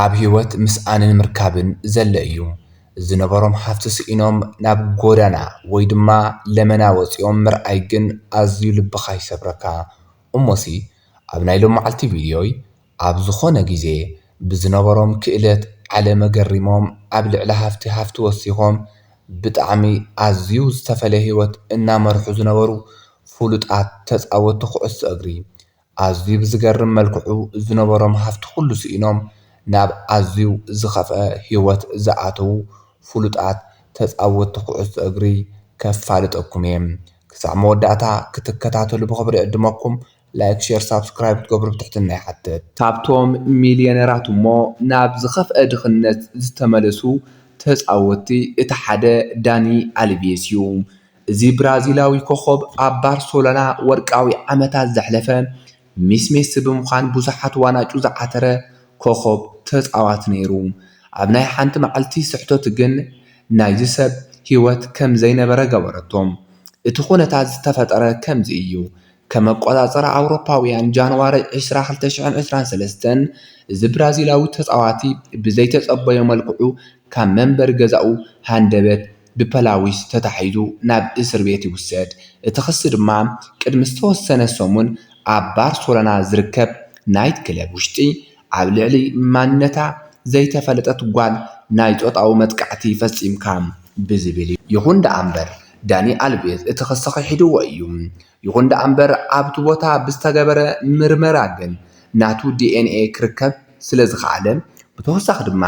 ኣብ ህይወት ምስኣንን ምርካብን ዘለ እዩ። ዝነበሮም ሃፍቲ ስኢኖም ናብ ጎዳና ወይ ድማ ለመና ወጺኦም ምርኣይ ግን ኣዝዩ ልብኻ ይሰብረካ። እሞሲ ኣብ ናይ ሎማዓልቲ ቪድዮይ ኣብ ዝኾነ ግዜ ብዝነበሮም ክእለት ዓለም ገሪሞም ኣብ ልዕሊ ሃፍቲ ሃፍቲ ወሲኾም ብጣዕሚ ኣዝዩ ዝተፈለየ ህይወት እናመርሑ ዝነበሩ ፍሉጣት ተጻወቲ ኩዕሶ እግሪ ኣዝዩ ብዝገርም መልክዑ ዝነበሮም ሃፍቲ ኩሉ ስኢኖም ናብ ኣዝዩ ዝኸፍኣ ህይወት ዝኣተዉ ፍሉጣት ተጻወትቲ ኩዕሶ እግሪ ከፋልጠኩም እየ ክሳዕ መወዳእታ ክትከታተሉ ብኽብሪ እዕድመኩም ላይክ ሼር ሳብስክራይብ ክትገብሩ ብትሕትና ይሓትት። ካብቶም ሚልየነራት እሞ ናብ ዝኸፍኣ ድኽነት ዝተመለሱ ተጻወትቲ እቲ ሓደ ዳኒ ኣልቬስ እዩ። እዚ ብራዚላዊ ኮኾብ ኣብ ባርሰሎና ወርቃዊ ዓመታት ዘሕለፈ ሚስ ሜሲ ብምዃን ብዙሓት ዋናጩ ዝዓተረ ኮኾብ ተጻዋቲ ነይሩ። ኣብ ናይ ሓንቲ መዓልቲ ስሕተቱ ግን ናይዚ ሰብ ህይወት ከም ዘይነበረ ገበረቶ። እቲ ኩነታት ዝተፈጠረ ከምዚ እዩ፣ ከም ኣቆፃፅራ ኣውሮፓውያን ጃንዋሪ ዕስራ ክልተ ሽሕን ዕስራን ሰለስተን እዚ ብራዚላዊ ተፃዋቲ ብዘይተፀበዮ መልክዑ ካብ መንበሪ ገዛኡ ሃንደበት ብፐላዊስ ተታሒዙ ናብ እስር ቤት ይውሰድ። እቲ ክሲ ድማ ቅድሚ ዝተወሰነ ሰሙን ኣብ ባርሶሎና ዝርከብ ናይት ክለብ ውሽጢ ኣብ ልዕሊ ማንነታ ዘይተፈለጠት ጓል ናይ ፆታዊ መጥቃዕቲ ፈፂምካ ብዝብል እዩ። ይኹን ደኣምበር ዳኒ ኣልቬዝ እቲ ክሲ ክሒድዎ እዩ። ይኹን ደኣምበር ኣብቲ ቦታ ብዝተገበረ ምርመራ ግን ናቱ ዲኤንኤ ክርከብ ስለዝኸኣለ ብተወሳኺ ድማ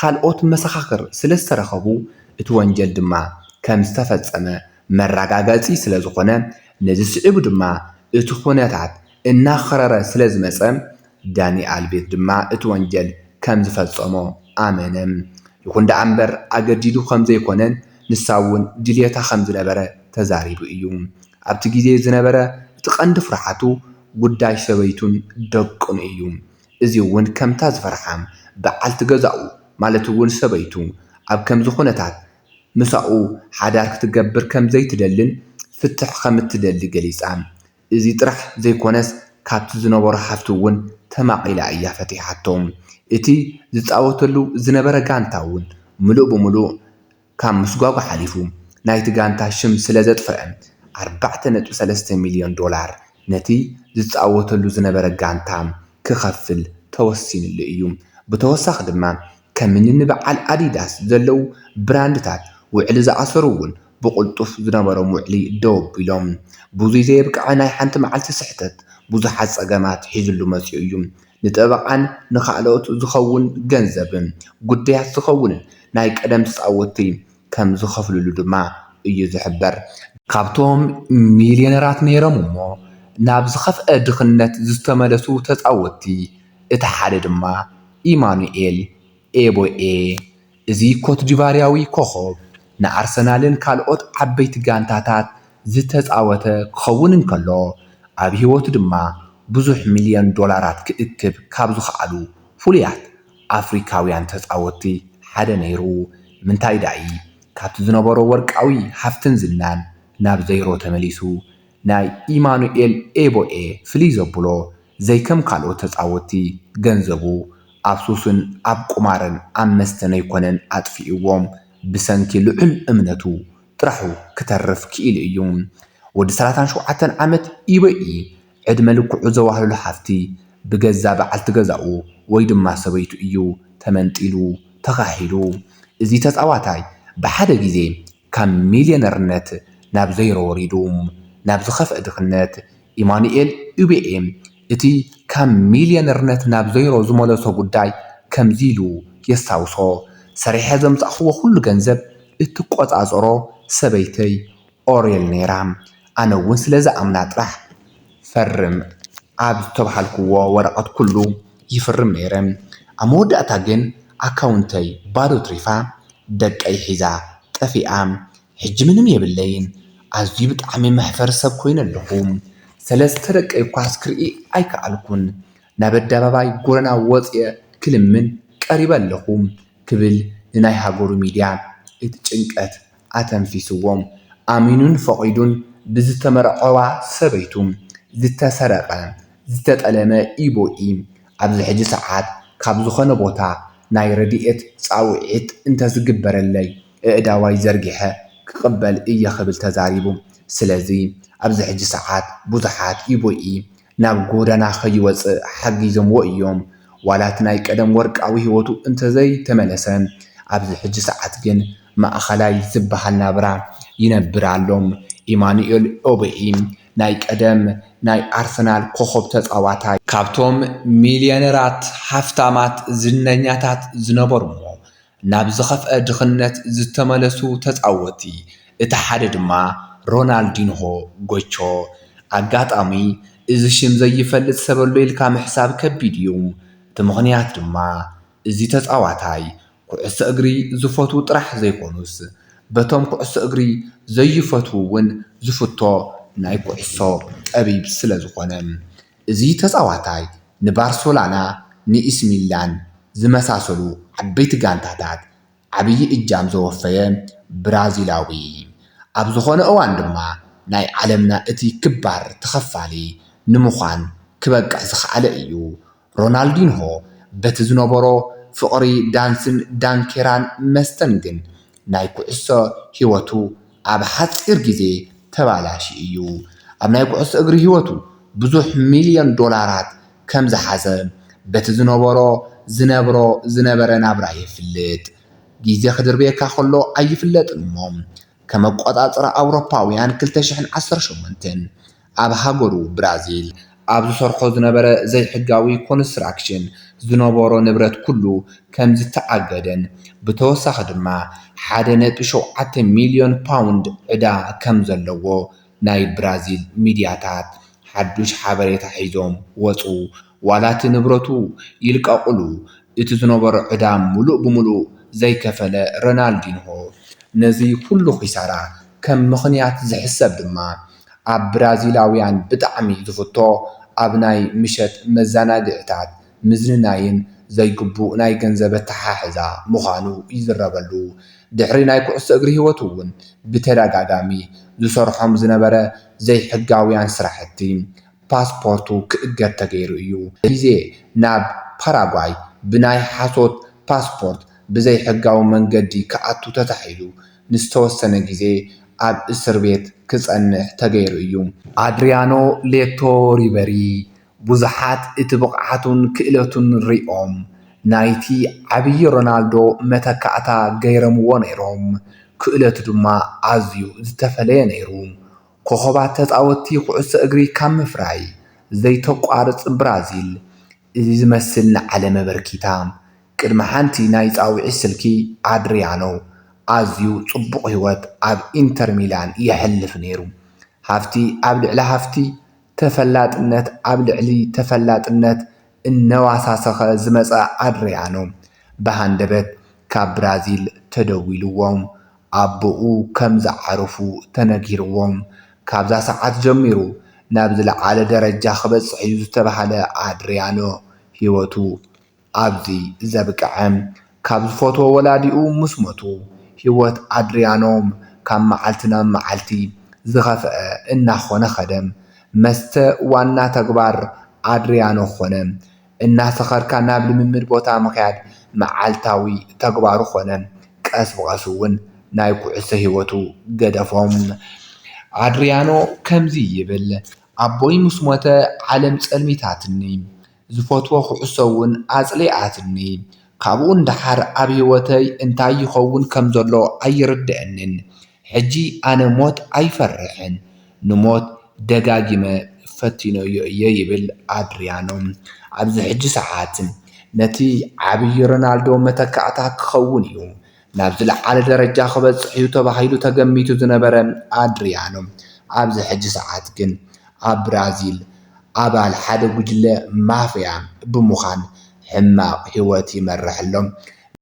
ካልኦት መሰኻኽር ስለዝተረኸቡ እቲ ወንጀል ድማ ከምዝተፈፀመ መረጋገፂ ስለዝኾነ ነዚ ስዒቡ ድማ እቲ ኩነታት እናኸረረ ስለ ዝመጸ፣ ዳኒ ኣልቬዝ ድማ እቲ ወንጀል ከም ዝፈጸሞ ኣመነ። ይኹን ደኣ እምበር ኣገዲዱ ከም ዘይኮነን ንሳ'ውን ድልየታ ከም ዝነበረ ተዛሪቡ እዩ። ኣብቲ ግዜ ዝነበረ እቲ ቀንዲ ፍርሓቱ ጉዳይ ሰበይቱን ደቁን እዩ። እዚ'ውን ከምታ ዝፈርሓ በዓልቲ ገዛኡ ማለት'ውን ሰበይቱ ኣብ ከምዚ ኩነታት ምሳኡ ሓዳር ክትገብር ከም ዘይትደልን ፍትሕ ከም እትደሊ ገሊጻ። እዚ ጥራሕ ዘይኮነስ ካብቲ ዝነበሮ ሓፍቱ እውን ተማቒላ እያ ፈቲሓቶ። እቲ ዝጻወተሉ ዝነበረ ጋንታ እውን ምሉእ ብምሉእ ካብ ምስጓጕ ሓሊፉ ናይቲ ጋንታ ሽም ስለ ዘጥፈኣ ኣርባዕተ ነጥቢ ሰለስተ ሚልዮን ዶላር ነቲ ዝጻወተሉ ዝነበረ ጋንታ ክኸፍል ተወሲንሉ እዩ። ብተወሳኺ ድማ ከምኒ ንበዓል ኣዲዳስ ዘለው ብራንድታት ውዕሊ ዝኣሰሩ እውን ብቕልጡፍ ዝነበሮም ውዕሊ ደው ኣቢሎም። ብዙይ ዘየብቅዐ ናይ ሓንቲ መዓልቲ ስሕተት ብዙሓት ፀገማት ሒዙሉ መፂኡ እዩ። ንጠበቓን ንኻልኦት ዝኸውን ገንዘብን ጉዳያት ዝኸውንን ናይ ቀደም ተፃወትቲ ከም ዝኸፍሉሉ ድማ እዩ ዝሕበር። ካብቶም ሚልየነራት ነይሮም እሞ ናብ ዝኸፍኣ ድኽነት ዝተመለሱ ተፃወትቲ እቲ ሓደ ድማ ኢማኑኤል ኤቦኤ፣ እዚ ኮትዲቫርያዊ ኮኾብ ንኣርሰናልን ካልኦት ዓበይቲ ጋንታታት ዝተጻወተ ክኸውን እንከሎ፣ ኣብ ህይወቱ ድማ ብዙሕ ሚልዮን ዶላራት ክእክብ ካብ ዝኸኣሉ ፍሉያት ኣፍሪካውያን ተጻወትቲ ሓደ ነይሩ። ምንታይ ዳኢ ካብቲ ዝነበሮ ወርቃዊ ሃፍትን ዝናን ናብ ዘይሮ ተመሊሱ? ናይ ኢማኑኤል ኤቦኤ ፍልይ ዘብሎ ዘይከም ካልኦት ተጻወቲ ገንዘቡ ኣብ ሱስን ኣብ ቁማርን ኣብ መስተን ኣይኮነን ኣጥፊእዎም ብሰንኪ ልዑል እምነቱ ጥራሑ ክተርፍ ክኢሉ እዩ ወዲ ሰላሳን ሸውዓተን ዓመት ኢቦኤ ዕድመ ልክዑ ዘዋህለሎ ሃፍቲ ብገዛ በዓልቲ ገዛኡ ወይ ድማ ሰበይቱ እዩ ተመንጢሉ ተኻሒሉ እዚ ተጻዋታይ ብሓደ ግዜ ካብ ሚልየነርነት ናብ ዘይሮ ወሪዱ ናብ ዝኸፍኣ ድኽነት፣ ኢማኑኤል ኡቤኤ እቲ ካብ ሚልየነርነት ናብ ዘይሮ ዝመለሶ ጉዳይ ከምዚ ኢሉ የስታውሶ፣ ሰሪሐ ዘምጻእክዎ ኩሉ ገንዘብ እትቆጻጸሮ ሰበይተይ ኦሬል ነይራ። ኣነ እውን ስለ ዝኣምና ጥራሕ ፈርም ኣብ ዝተብሃልክዎ ወረቐት ኩሉ ይፍርም ነይረ። ኣብ መወዳእታ ግን ኣካውንተይ ባዶ ትሪፋ ደቀይ ሒዛ ጠፊኣ ሕጂ ምንም የብለይን። ኣዝዩ ብጣዕሚ መሕፈሪ ሰብ ኮይነ ኣለኹ። ሰለስተ ደቀይ እኳስ ክርኢ ኣይከኣልኩን። ናብ ኣደባባይ ጎደና ወፅየ ክልምን ቀሪበ ኣለኹ ክብል ንናይ ሃገሩ ሚድያ እቲ ጭንቀት ኣተንፊስዎም፣ ኣሚኑን ፈቒዱን ብዝተመርዐዋ ሰበይቱ ዝተሰረቐ ዝተጠለመ ኢቦኢ ኣብዚ ሕጂ ሰዓት ካብ ዝኾነ ቦታ ናይ ረድኤት ጻውዒት እንተዝግበረለይ ኣእዳዋይ ዘርጊሐ ክቕበል እየ ክብል ተዛሪቡ። ስለዚ ኣብዚ ሕጂ ሰዓት ብዙሓት ኢቦኢ ናብ ጎደና ከይወጽእ ሓጊዞምዎ እዮም። ዋላ እቲ ናይ ቀደም ወርቃዊ ህይወቱ እንተዘይተመለሰ፣ ኣብዚ ሕጂ ሰዓት ግን ማእከላይ ዝበሃል ናብራ ይነብር ኣሎ። ኢማኑኤል ኦቦኢ፣ ናይ ቀደም ናይ ኣርሰናል ኮኾብ ተጻዋታይ። ካብቶም ሚልየነራት፣ ሃፍታማት፣ ዝነኛታት ዝነበሩዎ ናብ ዝኸፍኣ ድኽነት ዝተመለሱ ተጻወትቲ እቲ ሓደ ድማ ሮናልዲንሆ ጎቾ ኣጋጣሚ እዚ ሽም ዘይፈልጥ ሰበሎ ኢልካ ምሕሳብ ከቢድ እዩ እቲ ምኽንያት ድማ እዚ ተጻዋታይ ኩዕሶ እግሪ ዝፈትዉ ጥራሕ ዘይኮኑስ በቶም ኩዕሶ እግሪ ዘይፈትዉ ውን ዝፍቶ ናይ ኩዕሶ ጠቢብ ስለዝኾነ እዚ ተጻዋታይ ንባርሶላና ንኢሲሚላን ዝመሳሰሉ ዓበይቲ ጋንታታት ዓብዪ እጃም ዘወፈየ ብራዚላዊ ኣብ ዝኾነ እዋን ድማ ናይ ዓለምና እቲ ክባር ተኸፋሊ ንምዃን ክበቅዕ ዝኸኣለ እዩ። ሮናልዲንሆ በቲ ዝነበሮ ፍቕሪ ዳንስን ዳንኬራን መስተን ግን ናይ ኩዕሶ ህይወቱ ኣብ ሓጺር ግዜ ተባላሽዩ እዩ። ኣብ ናይ ኩዕሶ እግሪ ህይወቱ ብዙሕ ሚልዮን ዶላራት ከም ዝሓዘ በቲ ዝነበሮ ዝነብሮ ዝነበረ ናብራ የፍልጥ። ግዜ ክድርብየካ ከሎ ኣይፍለጥን እሞ፣ ከም ኣቆጻጽራ ኣውሮፓውያን ክልተ ሽሕን ዓሰርተ ሸሞንተን፣ ኣብ ሃገሩ ብራዚል ኣብ ዝሰርሖ ዝነበረ ዘይሕጋዊ ኮንስትራክሽን ዝነበሮ ንብረት ኩሉ ከምዝተኣገደን ብተወሳኺ ድማ ሓደ ነጥቢ ሸውዓተ ሚልዮን ፓውንድ ዕዳ ከምዘለዎ ናይ ብራዚል ሚድያታት ሓዱሽ ሓበሬታ ሒዞም ወጹ። ዋላ እቲ ንብረቱ ይልቀቕሉ እቲ ዝነበሮ ዕዳ ምሉእ ብምሉእ ዘይከፈለ ሮናልዲንሆ፣ ነዚ ኹሉ ኺሳራ ከም ምኽንያት ዝሕሰብ ድማ ኣብ ብራዚላውያን ብጣዕሚ ዝፍቶ ኣብ ናይ ምሸት መዘናግዒታት ምዝንናይን ዘይግቡእ ናይ ገንዘብ ኣተሓሕዛ ምዃኑ ይዝረበሉ። ድሕሪ ናይ ኩዕሶ እግሪ ህይወቱ'ውን ብተደጋጋሚ ዝሰርሖም ዝነበረ ዘይሕጋውያን ስራሕቲ ፓስፖርቱ ክእገድ ተገይሩ እዩ። ሪዜ ናብ ፓራጓይ ብናይ ሓሶት ፓስፖርት ብዘይ ሕጋዊ መንገዲ ክኣቱ ተታሒዙ ንዝተወሰነ ግዜ ኣብ እስር ቤት ክጸንሕ ተገይሩ እዩ። ኣድሪያኖ ሌቶ ሪበሪ፣ ብዙሓት እቲ ብቕዓቱን ክእለቱን ሪኦም ናይቲ ዓብዪ ሮናልዶ መተካእታ ገይረምዎ ነይሮም፣ ክእለቱ ድማ ኣዝዩ ዝተፈለየ ነይሩ። ኮኾባት ተጻወትቲ ኩዕሶ እግሪ ካብ ምፍራይ ዘይተቋርጽ ብራዚል፣ እዚ ዝመስል ንዓለም ኣበርኪታ። ቅድሚ ሓንቲ ናይ ጻውዒት ስልኪ ኣድርያኖ ኣዝዩ ጽቡቕ ህይወት ኣብ ኢንተር ሚላን የሕልፍ ነይሩ። ሃፍቲ ኣብ ልዕሊ ሃፍቲ፣ ተፈላጥነት ኣብ ልዕሊ ተፈላጥነት እናወሳሰኸ ዝመጸ ኣድርያኖ፣ ብሃንደበት ካብ ብራዚል ተደዊልዎም ኣቦኡ ከም ዝዓረፉ ተነጊርዎም ካብዛ ሰዓት ጀሚሩ ናብ ዝለዓለ ደረጃ ክበጽሕ እዩ ዝተባህለ ኣድርያኖ ህይወቱ ኣብዚ ዘብቅዐ። ካብ ዝፈትዎ ወላዲኡ ምስ ሞቱ ህይወት ኣድርያኖ ካብ መዓልቲ ናብ መዓልቲ ዝኸፍኣ እናኾነ ከደ። መስተ ዋና ተግባር ኣድርያኖ ኮነ። እናሰኸርካ ናብ ልምምድ ቦታ ምኽያድ መዓልታዊ ተግባሩ ኾነ። ቀስ ብቐስ እውን ናይ ኩዕሶ ህይወቱ ገደፎም። ኣድሪያኖ ከምዚ ይብል፣ ኣቦይ ምስ ሞተ ዓለም ጸልሚታትኒ። ዝፈትዎ ኩዕሶ እውን ኣጽሊኣትኒ። ካብኡ ንደሓር ኣብ ህይወተይ እንታይ ይኸውን ከም ዘሎ ኣይርድኣንን። ሕጂ ኣነ ሞት ኣይፈርሕን፣ ንሞት ደጋጊመ ፈቲነዮ እየ ይብል ኣድርያኖ። ኣብዚ ሕጂ ሰዓት ነቲ ዓብዪ ሮናልዶ መተካእታ ክኸውን እዩ፣ ናብ ዝለዓለ ደረጃ ክበጽሕ እዩ ተባሂሉ ተገሚቱ ዝነበረ ኣድርያኖ ኣብዚ ሕጂ ሰዓት ግን ኣብ ብራዚል ኣባል ሓደ ጉጅለ ማፍያ ብምዃን ሕማቕ ህይወት ይመርሕ ኣሎ።